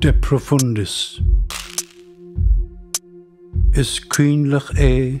De Profundis. Is coinleach é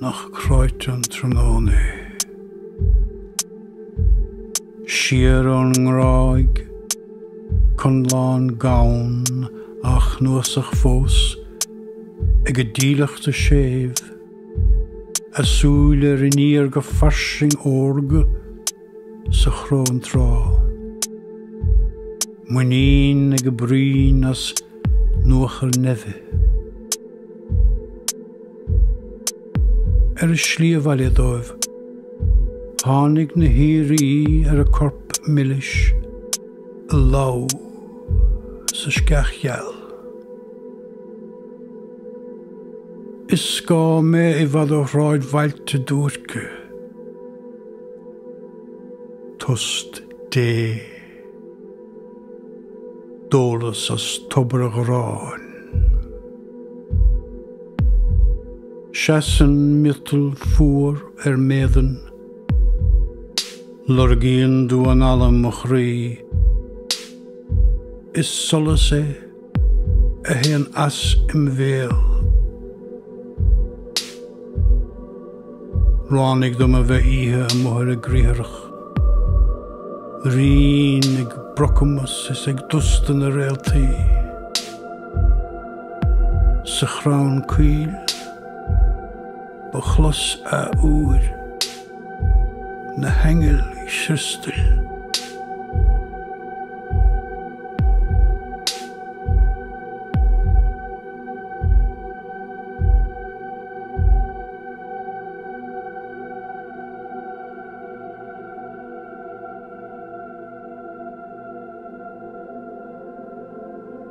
Nach cráite an tráthnóna é. Siar ón ngráig, conlán gann á chnuasach fós ag an dílleachta séimh, a súile ar iníor go fairsing órga, sa chróntráth. Muinín ag a broinn as nuachar neimhe. Ar a slí abhaile dóibh tháinig na haoirí ar a corp milis ag lobhadh sa sceach gheal. Is scáth mé i bhfad ó shráidbhailte duairce. Tost Dé d'ólas as tobar an gharráin. Seasann miotal fuar ar m'éadan, Lorgaíonn damhán alla mo chroí, Is solas é a théann as im bhéal. Ráinig dom a bheith oíche amuigh ar an gcriathrach. Righin ag brocamas is ag dusta na réaltaí. Sa chrann coill ba chlos athuair. na haingil chriostail.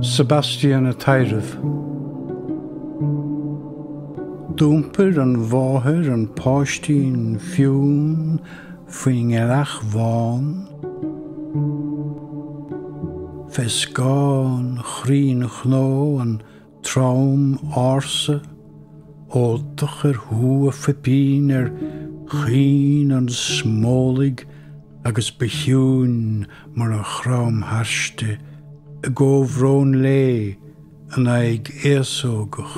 Sebastian ag taidhreamh. D'iompair an mháthair an páistín fionn faoin ngealach bhán, fé scáth an chrainn chnó an Trom ársa, óltach ar shú an phoipín ar chaoi an smólaigh agus ba chiúin mar a chrom thairsti i gcomhbhrón léi an aghaidh fhéasógach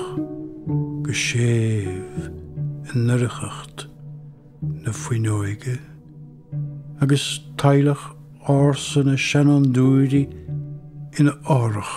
go séimh i ndoircheacht na fuinneoige. Agus teaghlach ársa na seanfhondúirí ina fhothrach.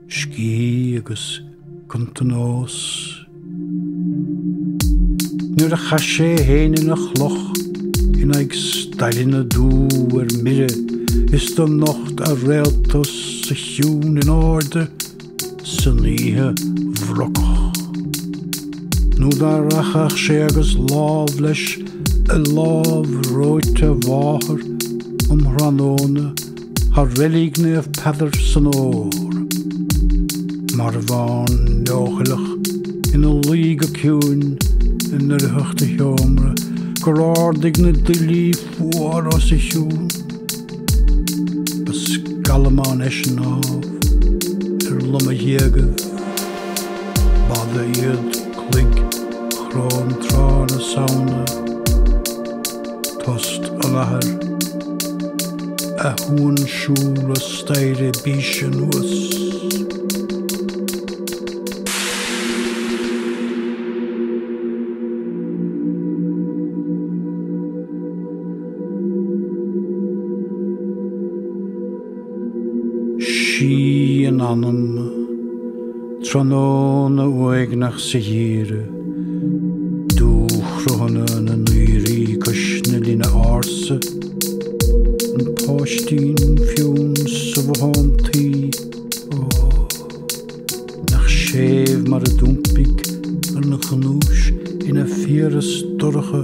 Scíth agus Cuntanós. Nuair a chaith sé é fhéin ina chloch in aghaidh staileanna dubha ar mire is do nocht a réalta os a chionn in airde san oíche bhrocach. Nó dá rachadh sé agus lámh leis i lámh reoite a mháthar um thráthnóna Thar Reilig Naomh Peadar san fhómhar, marbhán leochaileach ina luí go ciúin i ndoircheacht a sheomra gur ardaigh na duillí fuara os a chionn. Ba scallamán eisean ámh ar lomaghéagaibh, b'fhada iad cloig chróntrátha na Samhna, Tost an athar, a shuansiúil an staighre bíse anuas. Síth an anama, tráthnóna uaigneach sa gheimhreadh, dúchruthanna na n-aoirí cois na linne ársa, an páistín fionn sa bhothán tuí, ó, nach séimh mar a d'iompaigh an ghnúis ina fiabhras dorcha,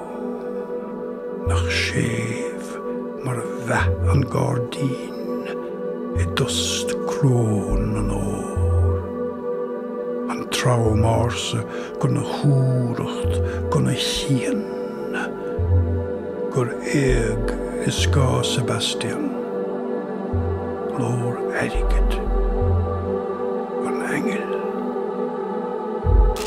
Nach séimh mar a mheath an gairdín i dtost crón an fhómhair, An trom ársa gona chumhracht, gona chian, Gur éag i scáth Sebastian glór airgid an aingil.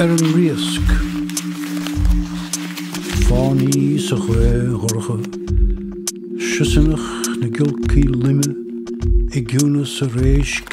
Ar an Riasc, fánaí sa ghaoth dhorcha, siosarnach na giolcaí loime i gciúnas an réisc,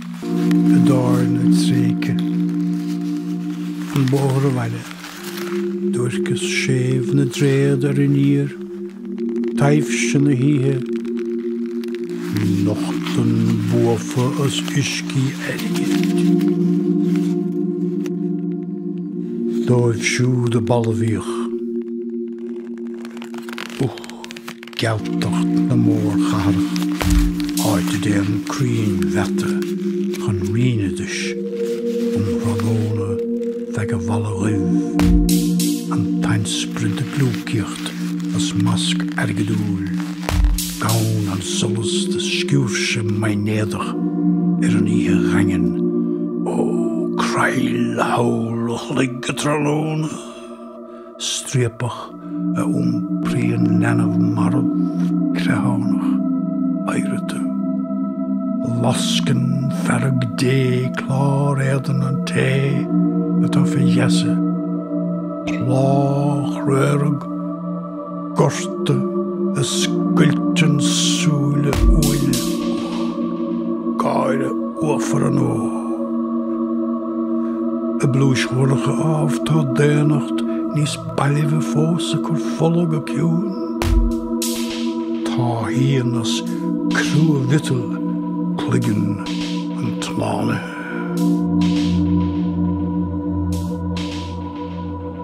i dtábhairne tréigthe an bóthar abhaile, duairceas séimh na dtréad ar iníor, taibhse na hoíche, nochtann buafa as uiscí airgid dóibh siúd a balbhaíodh. Gealtacht na mórchathrach, áit a dtéann crainn mheata chun righneadais um thráthnóna feadh an bhalla dhuibh, an t-ainsprid ag gliúcaíocht as masc airgeadúil, gabhann an solas de sciúirse maighnéadach ar an oíche dhaingean, ó creill tholl an chloig go tráthnóna. striapach a iompraíonn leanbh marbh creathánach, oighreata. Lascann fearg Dé clár éadain an té atá fé gheasa, plá chraorag, gorta a scoilteann súile uaine, gáire uafar an óir. I bpluais dhorcha ámh tá daonnacht níos bailbhe fós ag cur fola go ciúin. Táthaíonn as crua-mhiotal cloigeann an tslánaithe.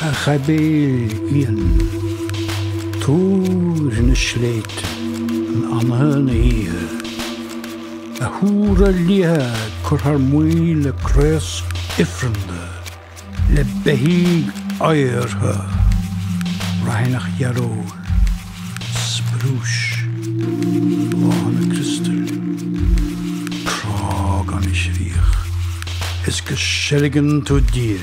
a ghaibéil fhiáin, túir na sléibhte in anaithe na hoíche, a thúra liatha ag cur thar maoil le craos ifreanda, le beithígh fhaghartha, raithneach dhearóil, sprúis, bláthanna criostail, crá gan chríoch, is go seilgeann tú Dia.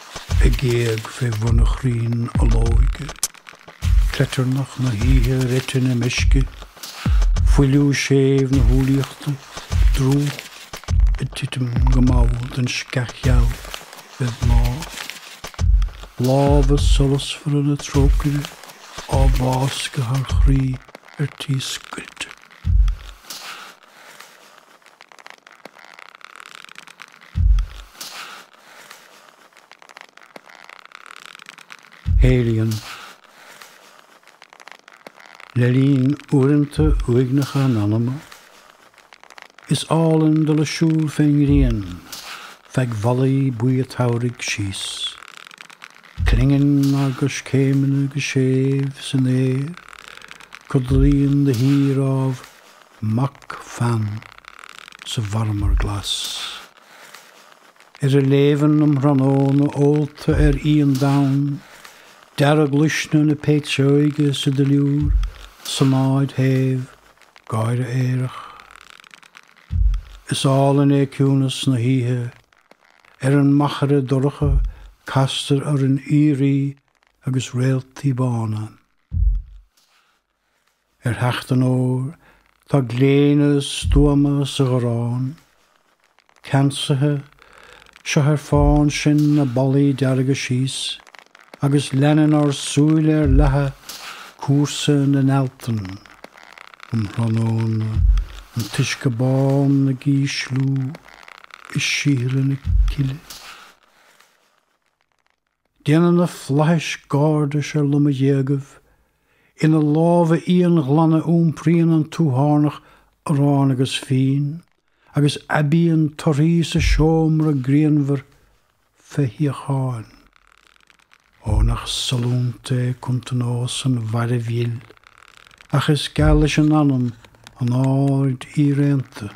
ag éag fé bhun an chrainn olóige, cleitearnach na hoíche ar eite na meisce, fuiliú séimh na humhlaíochta, drúcht ag titim go mall den sceach gheal fé bhláth, lámha solasmhara na trócaire á bhfáscadh thar chroí ar tí scoilte. Helian. Le linn uaireanta uaigneacha an anama, is álainn dul ag siúl fén ngrian feadh bhallaí buí an tsamhraidh síos clingeann ár gcoiscéimeanna go séimh san fhéar, codlaíonn de shíor ámh, mac Phan sa mharmar glas. Ar an léibheann um thráthnóna ólta ar fhíon donn, dearg-luisne na péitseoige sa duilliúr sonáid shéimh, gáire aerach. Is álainn é ciúnas na hoíche. Ar an machaire dorcha castar orainn aoirí agus réaltaí bána. Ar theacht an fhómhair, tá gléine stuama sa gharrán. Ceansaithe, seo ar fán sinn na ballaí dearga síos, agus leanann ár súile ar leathadh cúrsa na n-ealtan. Um thráthnóna, an t-uisce bán ag ísliú i síothla na cille. Déanann na flaithis gairdis ar loma ghéagaibh ina lámha íonghlana iompraíonn an tuathánach arán agus fíon agus aibíonn torthaí sa seomra grianmhar fé shíocháin. Ó, nach sollúnta é cuntanós an mhairbh dhil, ach is geal leis an anam an aird fhíréanta.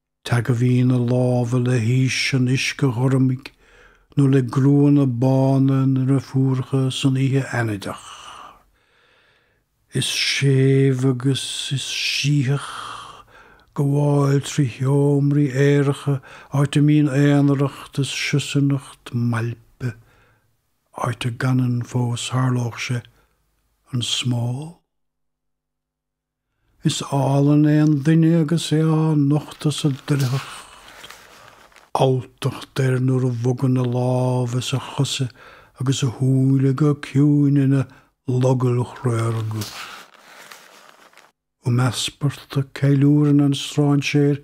Teagmhaíonn a lámha le haois an uisce ghormaigh nó le gruanna bána na ndeirfiúracha san oíche fheannaideach. Is séimh agus is sítheach gabháil trí sheomraí aeracha, áit a mbíonn aonaracht is siosarnach mailpe, áit a gcanann fós, tharlódh sé, an smól. Is álainn é an duine agus é á nochtadh sa doircheacht. Alltacht air nuair a bhogann a lámha is a chosa agus a shúile go ciúin ina logaill chraoraga. Um easparta, ceiliúrann an stráinséir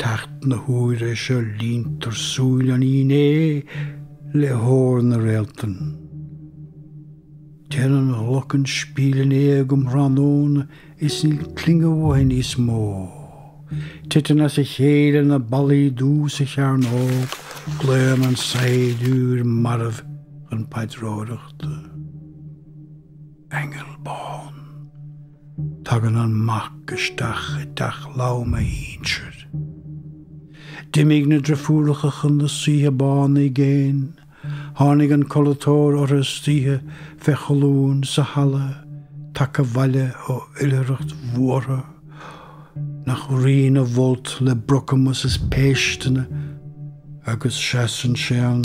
Teacht na huaire seo líontar súile an fhínné le hór na réaltann. Téann an ghlockenspiel in éag um thráthnóna is níl clingeadh uaithi níos mó. Titeann as a chéile na ballaí dubha sa chearnóg, glaonn an saighdiúir marbh chun paidreoireachta. Aingeal bán. Tagann an mac isteach i dteach folamh a shinsir. D'imigh na drifiúracha chun na saoithe bána i gcéin. Tháinig an codlatóir ortha istoíche fé cholúin sa halla tagtha abhaile ó oilithreacht bhuartha nach righin a bhfolt le brocamas is péisteanna agus seasann sé ann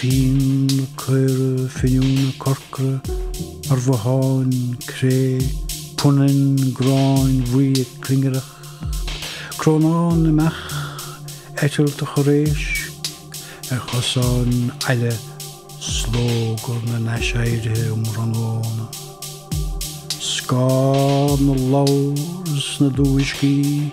fíonn na caora fíniúna corcra ar bhotháin cré, punainn gráin bhuí ag clingireacht, crónán na mbeach, eitilt an chorr éisc ar chosáin aille, slógadh na n-aiséirithe um thráthnóna, scáth na lobhar sna dubhuiscí.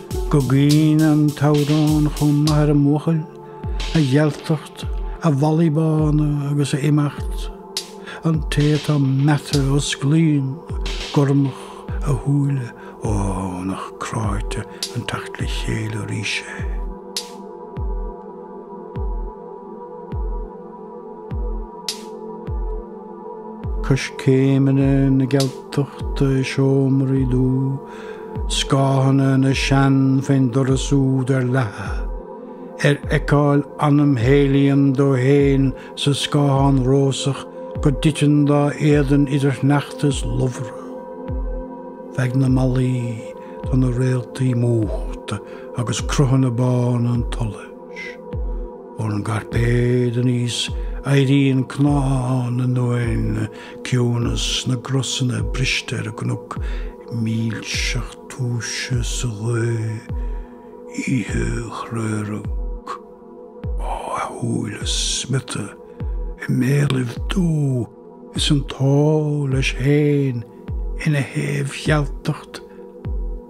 Go gcuimhní an t-amhrán chomh maith ar an mbuachaill, a ghealtacht, a mhalaí bána agus a imeacht, an té atá meata osclaíonn gormach a shúile, ó, nach cráite an teacht le chéile arís é. Coiscéimeanna na Gealtachta i seomraí dubha, scáthanna na sean fén doras úd ar leathadh, ar fheiceáil anam Helian dó fhéin sa scáthán rósach go dtiteann dá éadan idir shneachta is lobhra, feadh na mballaí tá na réaltaí múchta agus cruthanna bána an tsolais. Ón gcairpéad aníos éiríonn cnámha na n-uaigheann, ciúnas na gcrosanna briste ar an gcnoc milseacht túise sa ghaoth oíche chraorag, a shúile smiota i mbéalaibh dubha is an t-ua leis féin ina chaomhghealtacht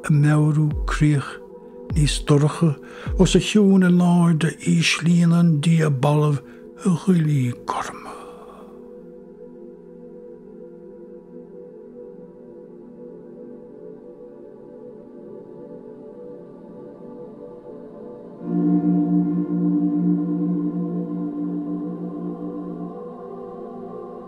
ag meabhrú críoch. Níos dorcha, os a chionn in airde íslíonn an dia balbh a dhuillí gorma.